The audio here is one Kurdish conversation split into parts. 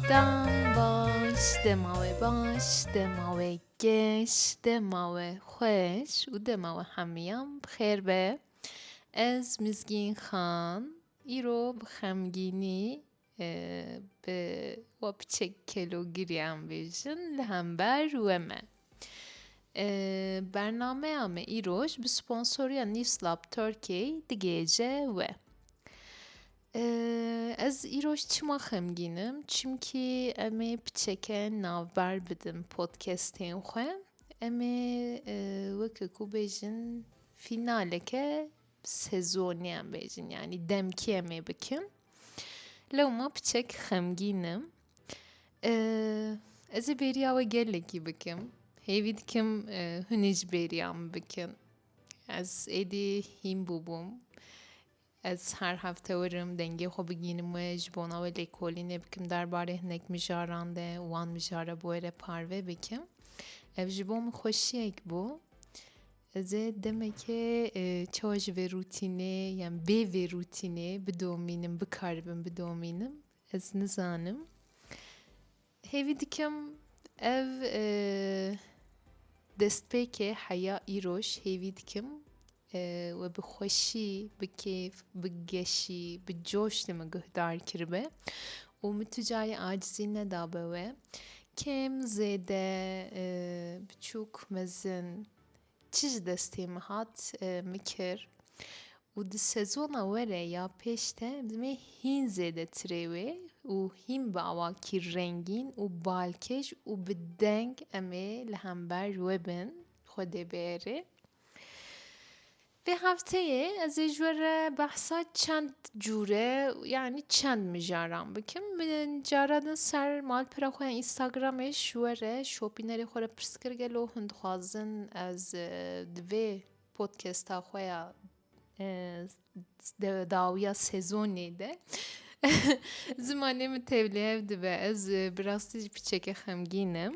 Dem baş, dema we baş, dema we geş, dema we xweş û dema we hemiyan bi xêr be. Ez Mizgîn Xan îro bi xemgînî Bi we piçek kelogiriyan bêjin li hember we me. Bernameya me îroj bi sponsoriya Newslab Turkey digihêje we. Ez îroj çima xemgînim? Çimkî em ê piçeke navber bidim podcastên xwe. Em ê weke ku bêjin fînaleke sezoniyan bêjin yanî demkî em ê bikin. Lewma piçek xemgîn im. Ez ê bêriya we gelekî bikim. Hêvî dikim hûn ê ji bêriya min bikin. Ez êdî hîn bûbûm. Ez her hefte werim dengê xwe bigînim we ji bona we lêkolînê bikim derbarê hinek mijaran de û wan mijara bi we re parve bikim. Ev ji bo min xweşiyek bû. Ez ê demekê çawa ji vê rûtînê yan bê vê rûtînê bidomînim, bikaribim bidomînim ez nizanim. Hêvî dikim ev destpêkê heya îroj hêvî dikim we bi xweşî, bi kêf, bi geşî, bi coş li min guhdar kiribe û min tu carî acizî nedabe we. Kêm, zêde, biçûk, mezin, çi ji destê min hat min kir û di sezona we re ya pêş de dimê hîn zêdetirê wê û hîn bi awakî rengîn û balkêş û bi deng em ê li hember we bin xwe dê biêrê. Vê hefteyê ez ê ji we re behsa çend cûre yanî çend mijaran bikim. Min cara din ser malpera xwe ya Instagramê ji we re şopînerê xwe re pirs kir gelo hûn dixwazin ez di vê podkesta xwe ya dawiya sezonê de zimanê min tevlihev dibe. Ez bi rastî jî piçeke xemgîn im.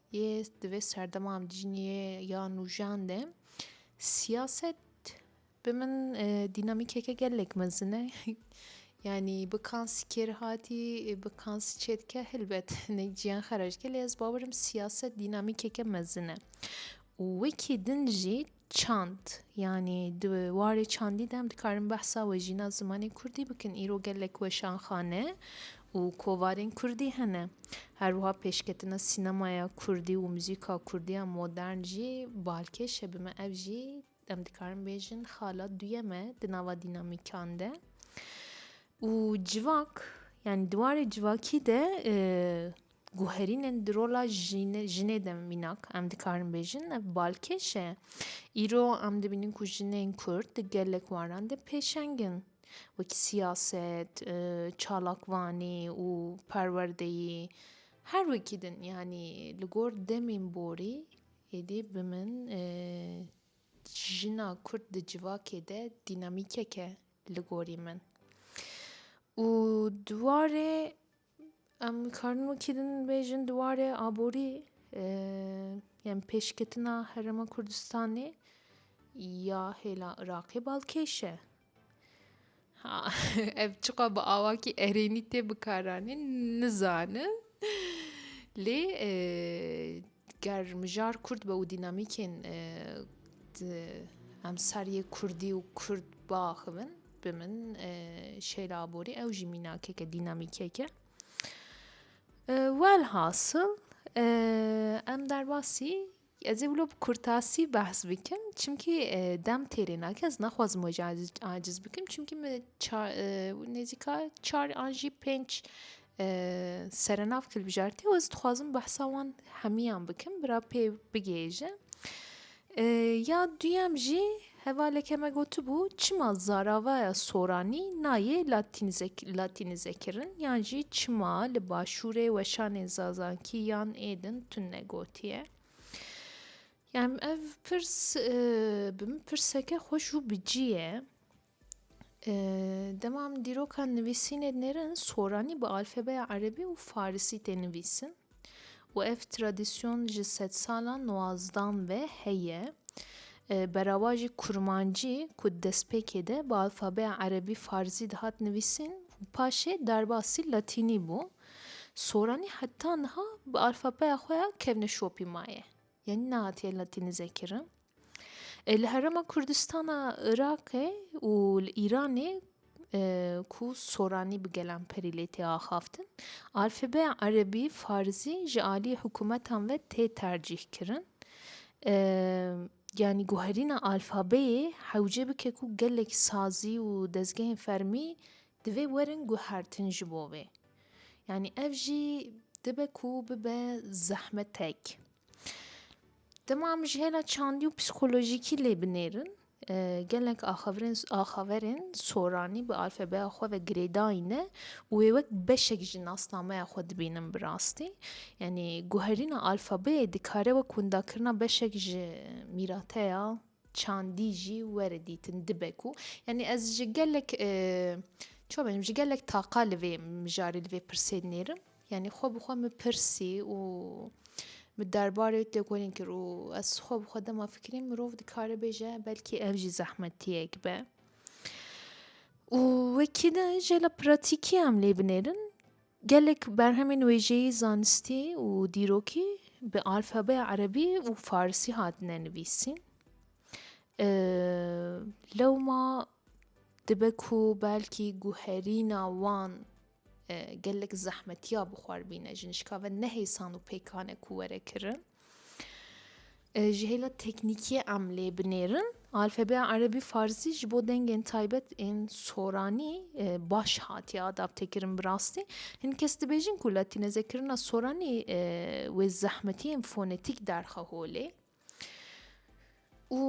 Yê di vê serdema em dijîn yê ya nûjan de siyaset bi min dînamîkeke gelek mezin e. Yanî bi kansî kêr hatî, bi kansî çê dike helbet ne ciyan xera dike lê ez bawer im siyaset dînamîkeke mezin e. Û wekî din jî Çand, yanî di warê çandî de em dikarin behsa wejîna zimanê kurdî bikin. Îro gelek weşanxane û kovarên kurdî hene. Her wiha pêşketina sînemaya kurdî û muzîka kurdî ya modern jî balkêş e. Bi me ev jî em dikarin bêjin xala duyem e di nava dînamîkan de. Û civak, yanî di warê civakî de Guherînên di rola jinê de mînak em dikarin bêjin ev balkêş e. Îro em dibînin ku jinên Kurd di gelek waran de pêşeng in. Wekî siyaset, çalakvanî û perwerdeyî her wekî din. Yanî li gor demên borî êdî bi min jina Kurd di civakê de dînamîkek e li gorî min. Û di warê Em dikarin wekî din bêjin di warê aborî yên pêşketina Herêma Kurdistanê ya hêla Iraqê bal kêş e. Ha ev çiqa bi awakî erênî tê bikaranîn nizanin lê Ger mijar kurt be û dînamîkên di emsaryê kurdî û kurd biaxivin bi min Şeyla Aborî ew jî mînakeke dînamîkeke. Welhasil em derbasî ez ê wilo bi kurtasî behs bikim çimkî dem têrê nake ez naxwazim wê jî aciz bikim çimkî min nêzîka çar an jî pênc serenav kilbijartê ez dixwazim behsa wan hemiyan bikim bira pê bigihêje ya duyem jî hevaleke me gotibû çima zaravaya soranî nayê latînizekirin yan jî çima li başûrê weşanê zazankî yan êdin tune negotiye yan ev pirs bi min pirseke xweş û bicî ye. Dema em dîroka nivîsînê nêrin, soranî bi alfebeya erebî û farisî tê nivîsin û ev tradîsyon ji sedsala nuwazdan ve heye. Berava jî kurmancî ku di destpêkê de bi alfabeya erebî farisî dihat nivîsîn û paşê derbasî latînî bû, soranî heta niha bi alfabeya xwe ya kevneşopî maye. Yanî nehatiye latînîzekirin. Li Herêma Kurdistana Iraqê û li Îranê ku soranî bi gelan perî lê tê axaftin, alfabeyên erebî, farzî ji aliyê hikûmetan ve tê tercîh kirin. Yanî guherîna alfabeyê hewce bike ku gelek sazî û dezgehên fermî divê werin guhertin ji bo wê. Yanî ev jî dibe ku bibe zehmetek. Dema em ji hêla çandî û psîkolojîkî lê binêrin gelek axaverên axaverên soranî bi alfabeya xwe ve girêdayî ne û wê wek beşek ji nasnameya xwe dibînin bi rastî yanî guherîna alfabeyê dikare wek windakirina beşek ji mîrateya çandî jî were dîtin dibe ku yanî ez ji gelek çawa ji gelek taqa li vê mijarê li vê pirsê dinêrim. Yanî xwe bi xwe min pirsî û min derbarê wê têkolîn kir û ez xwe bi xwe dema fikirîm mirov dikare bêje belkî ev jî zehmetiyek be. û wekî de jê li pratîkî em lê binêrin gelek berhemên wêjeyî zanistî û dîrokî bi alfabeya erebî û farsî hatine nivîsîn. Lewma dibe ku belkî guherîna wan Gelek zehmetiya bi xwe re bîne ji nişka ve ne hêsan û pêkan e ku were kirin. Ji hêla teknîkiyê em lê binêrin alfabeya erebî farzî ji bo dengên taybet ên soranî baş hatiye adaptekirin bi rastî. Hin kes dibêjin ku latînezekirina soranî wê zehmetiyên fonetîk derxe holê. û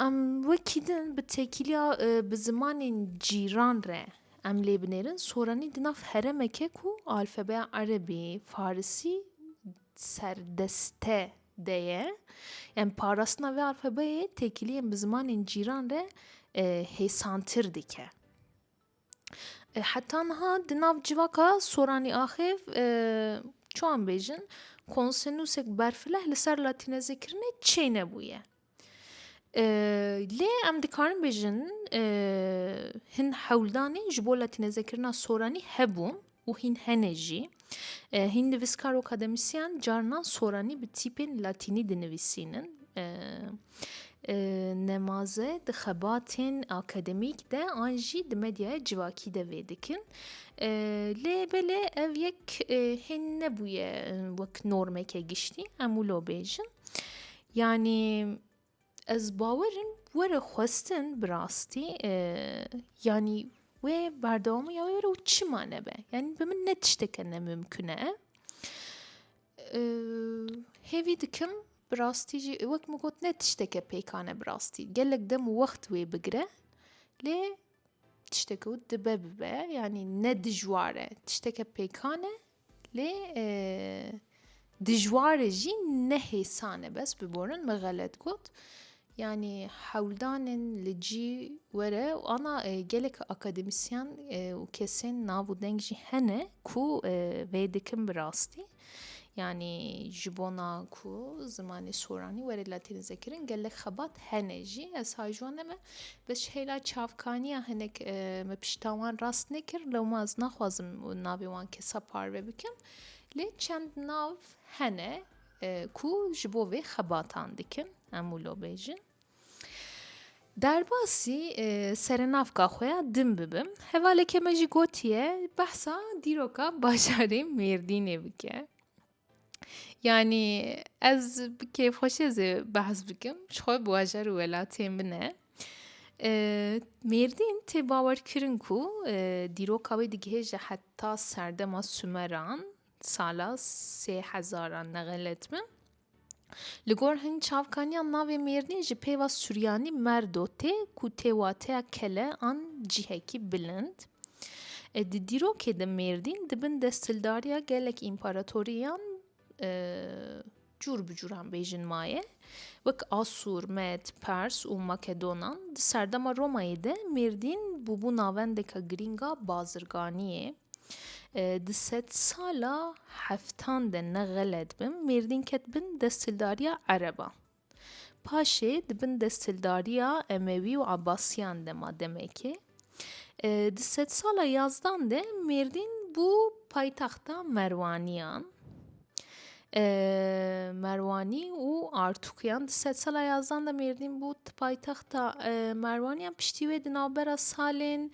em wekî din bi têkiliya bi zimanên cîran re em lê binêrin soranî di nav heremeke ku alfabeya erebî farisî serdeste de ye em parastina vê alfabeyê têkiliyên bi zimanên cîran re hêsantir dike. Heta niha di nav civaka Soranî axêv çiwan bêjin konsenûsek berfileh li ser latînezêkirinê çê nebûye. Lê em dikarin bêjin hin hewldanên ji bo latînezekirina soranî hebûn. û hîn hene jî. Hîn nivîskar û akademisyen carinan soranî bi tîpên latînî dinivîsînin. Nemaze di xebatên akademîk de an jî di medyaya civakî de vê dikin. Lê belê ev yek hîn nebûye wek normeke giştî em wilo bêjin. Yanî Ez bawer in were xwestin bi rastî yanî wê berdewamî ya wê were û çima nebe. Yanî bi min ne tişteke nemimkun e. Hêvî dikim bi rastî jî wek min got ne tişteke pêkan e bi rastî. Gelek dem û wext wê bigire lê tişteke dibe bibe yanî ne dijwar e. Tişteke pêkan e Lê dijwar e jî ne hêsan e bes biborin me xelet got. Yanî hewldanên li cî were û ana gelek akademisyen û kesên nav û deng jî hene ku vê dikin bi rastî. Yanî ji bona ku zimanê soranî were latînize kirin gelek xebat hene jî. Ez hay ji wan ne me Bi şehîla çavkaniya hinek me pişta wan rast nekir lew ma ez naxwazim navê wan kesa parve bikim lê çend nav hene ku ji bo vê xebatan dikin em û lo bêjin. Derbasî serenavka xwe ya din bibim hevaleke me jî gotiye behsa dîroka bajarê Mêrdînê bike. Yanî ez bi kêfxweşê zê behs bikim ji xwe bi wajer û welatiyên min e. Mêrdîn tê bawerkirin ku dîroka wê digihe ji heta serdema Sumeran sala sê hezaran nexilet bim. Li gor hin çavkaniyan navê Mêrdîn ji pêva Suryanî merdo tê ku tê wateya kele an cihekî bilind. Di dîrokê de Mêrdîn di bin desthildariya gelek împaratoriyan cûr bi cûran bêjin maye. Wek Asûr, Med, Pers û Makedonan di serdema Romayê de Mêrdîn bûbû navendeka girîng a bazirganiyê. Di sedsala heftan de ne xelet bim Mêrdîn ket bin desthildariya ereban. Paşê di bin desthildariya Emewî û Ebasiyan de ma demekê. Di sedsala yazdan de Mêrdîn bû paytexta Merwaniyan. Merwanî û Artûkiyan di sedsala yazdan de Mêrdîn bû paytexta Merwaniyan. Piştî wê di navbera salên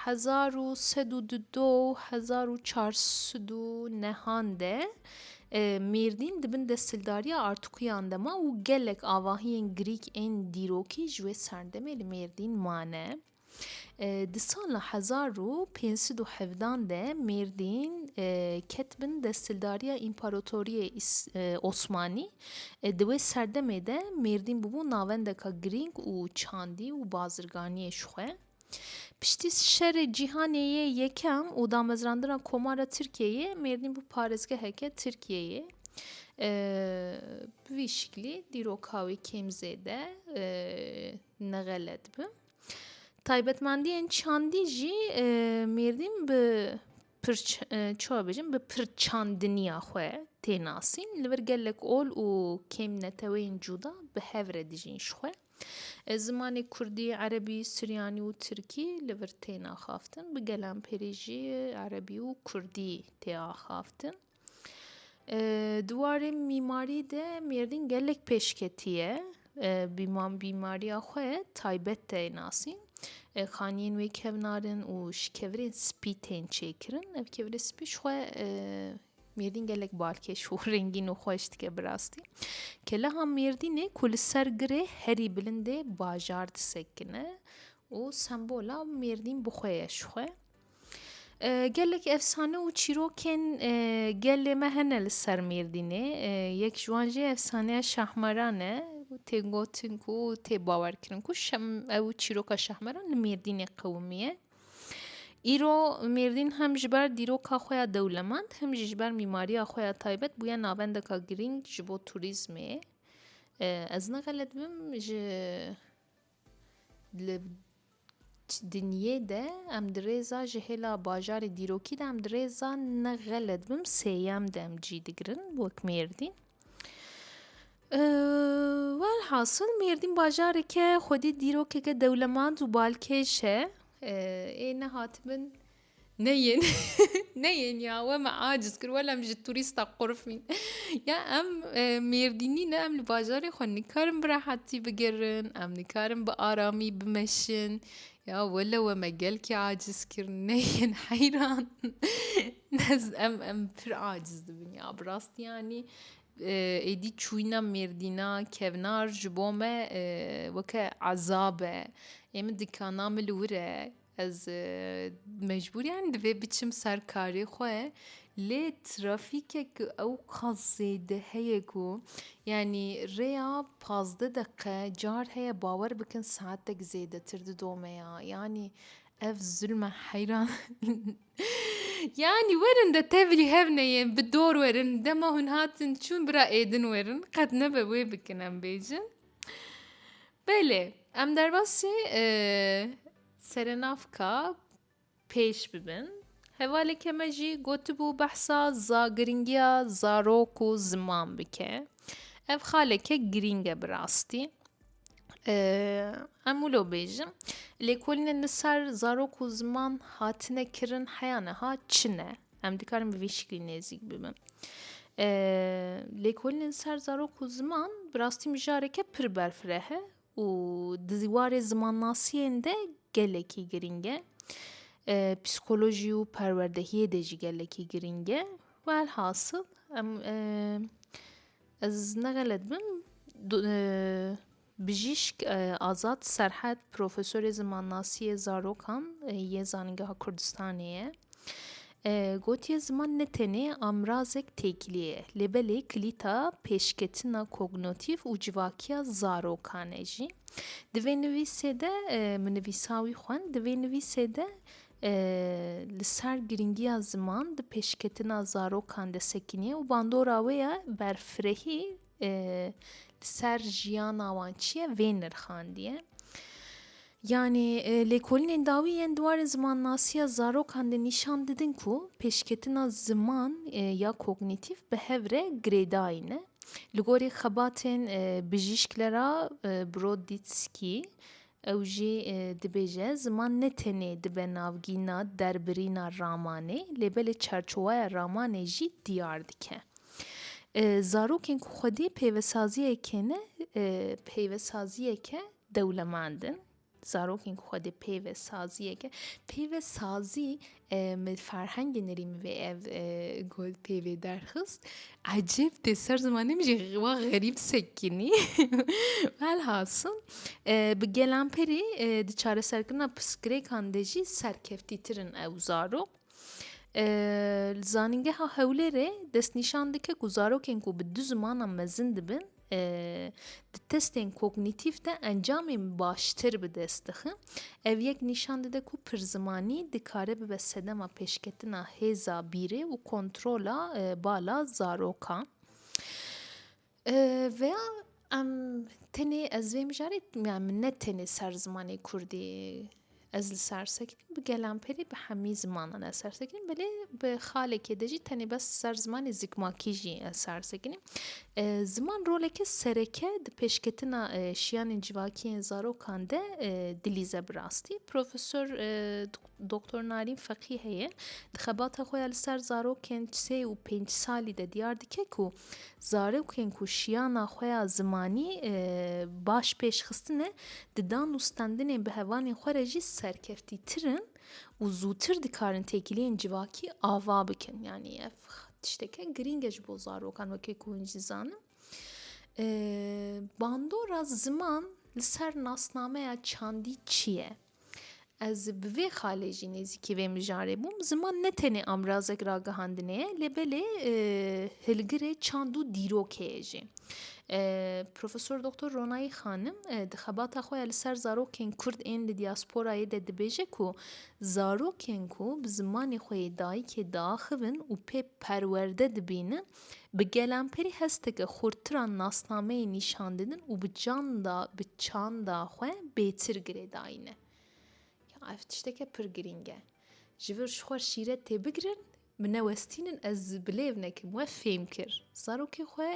Hezar û sed û du do û hezar û çar sed û nehan de Mêrdîn di bin desthildariya Artukuyan de ma û gelek avahiyên Grîk ên dîrokî ji wê serdemê li Mêrdîn mane. Di sala hezar û pênc sed û hevdan de Mêrdîn ket bin desthildariya Împaratoriyê Osmanî Di wê serdemê de Mêrdîn bûbû navendeka girîng û çandî û bazirganiyê ji xwe. Piştî Şerê Cîhanê yê Yekem û damezrandina Komara Tirkiyeyê Mêrdîn bû parêzgeheke Tirkiyeyê. Bi vî şiklî dîroka wê kêm zêde nexelet bi. Taybetmendiyên çandî jî Mêrdîn bi Pirç, çawa bêjim, bi pirçandiniya xwe tê nasîn, li vir gelek ol û kêm neteweyên cuda bi hev re dijîn ji xwe. Zimanê kurdî, erebî, suryanî û tirkî li vir tên axaftin, bi gelan pêrê jî erebî û kurdî tê axaftin. Di warê mîmarî de Mêrdîn gelek pêşketî ye. Bi mîmariya xwe taybet tê nasîn. Xaniyên wê kevnar in û ji kevirên spî tên çêkirin. Ev kevirê spî ji xwe Mêrdîn gelek balkêş û rengîn û xweş dike bi rastî. Keleha Mêrdînê ku li ser girê herî bilindê bajar disekine û sembola Mêrdîn bi xwe ye ji xwe. Gelek efsane û çîrokên gelê me hene li ser Mêrdînê. Yek ji wan jî efsaneya Şahmeran e. Tê gotin ku tê bawerkirin ku ew çîroka Şahmeran li Mêrdînê qewimiye. Îro Mêrdîn hem ji ber dîroka xwe ya dewlemend hem jî ji ber mîmariya xwe ya taybet bûye navendeka girîng ji bo turîzmê. Ez nexelet bim ji Li dinyê de em di rêza ji hêla bajarê dîrokî de em di rêza ne xelet bim sêyem de em cî digirin wek Mêrdîn. Welhasil Mêrdîn bajareke xwedî dîrokeke dewlemand û balkêş e. Ê nehatibin. Ne yên ne yên ya we me aciz kir wela em ji tûrîsta qurfîn ya em mêrdînî ne em li bajarê xwe nikarin bi rehetî bigirin em nikarin bi aramî bimeşin ya wele we me gelkî aciz kir ne yên heyran ez em em pir aciz dibin ya bi rastî yanî êdî çûyîna mêrdîna kevnar ji bo me weke ezab e ê min dikana min li wir e Ez mecbûriyan divê biçim ser karê xwe lê trafîkek ew qas zêde heye ku yanî rêya pazdeh deqe car heye bawer bikin saetek zêdetir didome ya yanî ev zilm e heyran yanî werin de tevlî hev neyê bi dor werin dema hûn hatin çûn bira êdin werin qet nebe wê bikin em bêjin. Belê em derbasî e, serenavka pêş bibin. Hevaleke me jî gotibû behsa za giringiya zarok û ziman bike. Ev xaleke girîng e bi rastî. Em wilo bêjim lêkolînên li ser zarok û ziman hatine kirin heya niha çi ne? Em dikarin bi vî şiklî nêzîk bibin. Lêkolînên ser zarok û ziman bi rastî mijareke pir berfireh e û di warê zimannasiyên de gelekî girîng e. Psîkolojî û perwerdehiyê dê jî gelekî girîng e. Welhasil em ez negelet bim Bijîşk Azad Serhed profesorê zimannasiyê zarokan yê Zanîngeha Kurdistanê ye. Gotiye ziman ne tenê amrazek têkilî ye lê belê kilîta pêşketina kognotîf û civakiya zarokan e jî. Di vê nivîsê de min nivîsa wî xwend, di vê nivîsê de li ser girîngiya ziman di pêşketina zarokan de sekiniye û bandora wê ye berfirehî, Li ser jiyana wan çi ye vê nirxandiye? Yanî lêkolînên dawî yên di warê zimannasiya zarokan de nîşan didin ku pêşketina ziman ya kognîtîf bi hev re girêdayî ne. Li gorî xebatên bijîşk Lera Broditskî Ew jî dibêje, ziman ne tenê dibe navgîna derbirîna ramanê lê belê çarçoweya ramanê jî diyar dike. Zarokên ku xwedî peyvesaziyekê ne peyvesaziyeke dewlemend in. Zarokên ku xwedî peyvesaziyeke peyvesazî Min ferhengê Nerîmivê ev gul pê vê derxist. Ecêb tê ser zimanê min jî wa xerîb sekinî. Velhasil bi gelanperî di çareserkirina pirsgirêkan de jî serkeftîtir in ew zarok. Li Zanîngeha Hewlêrê destnîşan dike ku zarokên ku bi du zimanan mezin dibin Di testên kognîtîf de encamên baştir bi dest dixin. Ev yek nîşan dide ku pirzimanî dikare bibe sedema pêşketina hêza bîrê û kontrola bala zarokan. Veya em tenê ez vê mijarê min ne tenê ser zimanê kurdî Ez li Sersekînê bi Gelanperî bi hemî zimanan ez sersekînîm belê bi xalekê de jî tenê bes ser zimanê zikmakî jî ez sersekînîm. Ziman roleke sereke di pêşketina şiyanên civakî yên zarokan de dilîze bi rastî. Profesor Doktor Narîn Feqî heye di xebata xwe ya li ser zarokên sê û pênc salî de diyar dike ku Zarokên ku şiyana xwe ya zimanî baş pêş xistine, di dan û standinên bi hevalên xwe re jî serkeftîtir in û zûtir dikarin têkiliyên civakî ava bikin. Yanî ev tişteke girîng e ji bo zarokan wekî ku hûn jî zanin. Bandora ziman li ser nasnameya çandî çi ye? Ez bi vê xalê jî nêzîkî vê mijarê bûm. Ziman ne tenê amrazek ragihandinê ye lê belê e, hilgirê çand û dîrokê ye jî. E, Profesor Doktor Ronayî Xanim e, di xebata xwe ya li ser zarokên Kurd ên li dîasporayê de dibêje ku zarokên ku bi zimanê xwe yê dayikê diaxivin û pê perwerde dibînin Bi gelanperî hesteke xurtir a nasnameyê nîşandidin û bi canda, bi çanda xwe bêtir girêdayîne. Ya ev tişteke pir girîng e. Ji vir ji xwe şîret tê bigirin, min newestînin ez bi lêv nekim we fêm kir. Zarokê xwe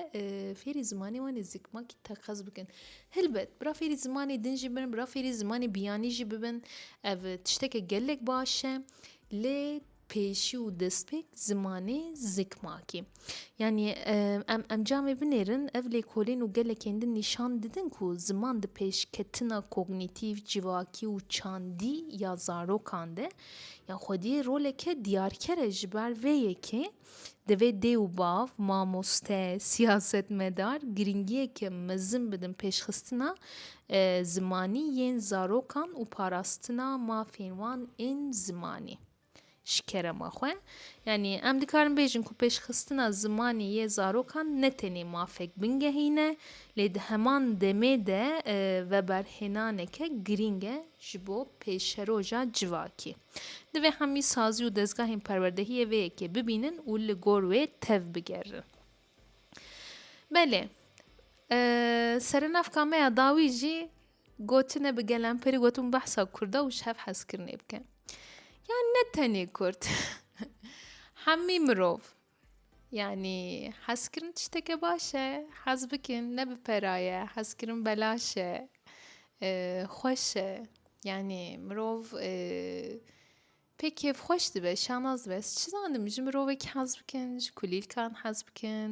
fêrî zimanê wan ê zikmakî teqez bikin. Hilbet bira fêrî zimanê din jî bin, bira fêrî zimanê biyanî jî bibin ev tişteke gelek baş e lê Pêşî û destpêk zimanê zikmakê. Yanî em encamê binêrin, ev lêkolên û gelekên din nîşan didin ku ziman di pêşketina kognîtîv, civakî û çandî ya zarokan de ya xwediyê roleke diyarker e. Ji ber vê yekê divê dê û bav, mamoste, siyasetmedar girîngiyeke mezin bidin pêşxistina zimanî yên zarokan û parastina mafên wan ên zimanî. Ji kerema xwe, yanî em dikarin bêjin ku pêşxistina zimanê yê zarokan ne tenê mafek bingehîn e, lê di heman demê de veberhênaneke girîng e ji bo pêşeroja civakî. Divê hemî sazî û dezgahên perwerdehiyê vê yekê bibînin û li gor wê tev bigerin. Belê, serenavka me ya dawî jî Gotine bi gelen peri gotin behsa kurda û şev hezkirinê bike. Ya ne tenê kurd. Hemî mirov. Yani hezkirin tişteke baş e. Hez bikin ne bi peraye. Hezkirin belaş e. Xweş e. Yani mirov Pê kêfxweş dibe, şanaz dibe. Ez çi zanim, ji mirovekî hez bikin, ji kulîlkan hez bikin,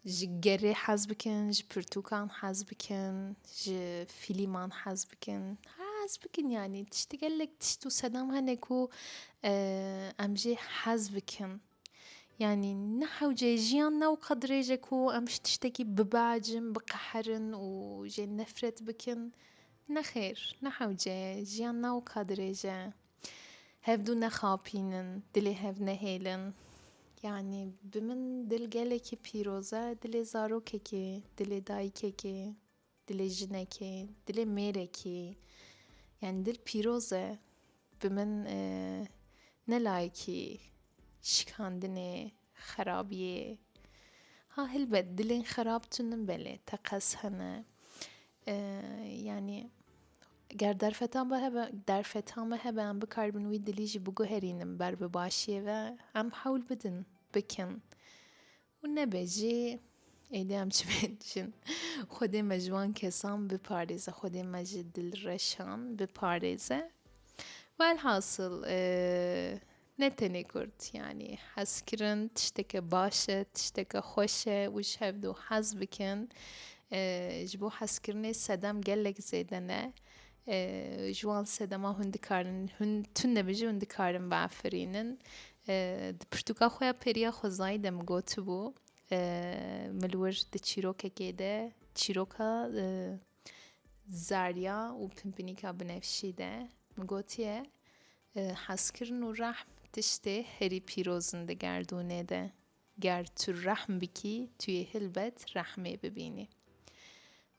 ji gerê hez bikin, ji pirtûkan hez bikin, ji fîlîman hez bikin. Hez bikin yanî tiştî gelek tişt û sedem hene ku em jê hez bikin. Yanî ne hewce jiyan ne wiqa dirêj e ku em ji tiştekî bibehecin, biqeherin û jê nefret bikin. Nexêr, ne hewce ye, jiyan ne wiqa dirêj e. Hevdû nexapînin, dilê hev nehêlin. Yanî bi min dil gelekî pîroz e, dilê zarokekê, dilê dayikekê. Dilê jinekê, dilê mêrekî yanî dil pîroz e. Bi min ne layekî şikandinê, xerabiyê. Ha helbet dilên xerab tune belê, teqez hene. Yanî ger derfetan ve hebe, derfetan ve hebe em bikaribin wî dilî jî biguherînin ber bi başiyê ve. Em hewl bidin bikin. û nebe jî êdî em çi bên dijîn. Xwedê me ji wan kesan biparêze, Xwedê me ji dilreşan biparêze. Welhasil ne tenê Kurd yanî hezkirin tişteke baş e, tişteke xweş e û ji hev du hez bikin. Ji bo hezkirinê sedem gelek zêde ne. Ji wan sedema hûn dikarin, hûn tune bi jî hûn dikarin biafirînin. Di pirtûka xwe ya pêriya xwezayî de min gotibû min wir di çîrokekê de çîroka Zarya û Pimpinîka Binefşî de min gotiye hezkirin û rehm tiştê herî pîroz in di gerdûnê de. Ger tu rehm bikî tu yê hilbet rehmê bibînî.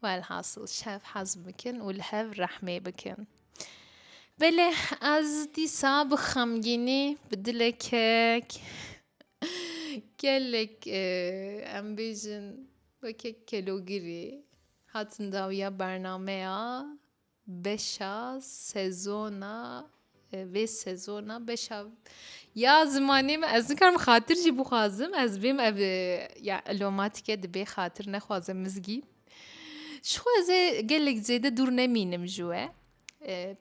Welhasil şev hezm bikin û li hev rehmê bikin. Belê ez dîsa bi xemgînî bi dilekek gelek e, em bêjin wekek kelogirî hatin dawiya bernameya Beşa sezona vê sezona beşa ya zimanê me ez nikarim xatir jî bixwazim ez bêm ev ya elomatîke dibê xatir nexwaze mizgî ji xwe ez ê gelek zêde dûr nemînim ji we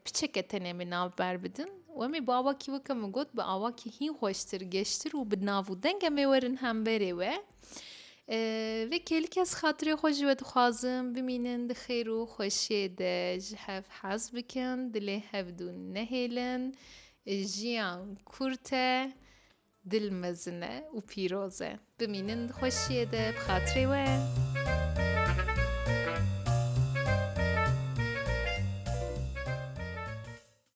piçeke tenê min nav ber bidin wemê bi awakî weke min got bi awakî hîn xweştir geştir û bi nav û dengê me werin hemberê we. Vê kêlikê ez xatirê xwe ji we dixwazim, bimînin di xêr û xweşiyê de, ji hev hez bikin, dilê hevdû nehêlin, jiyan kurt e, dil mezin e û pîroz e. Bimînin di xweşiyê de, bi xatirê we.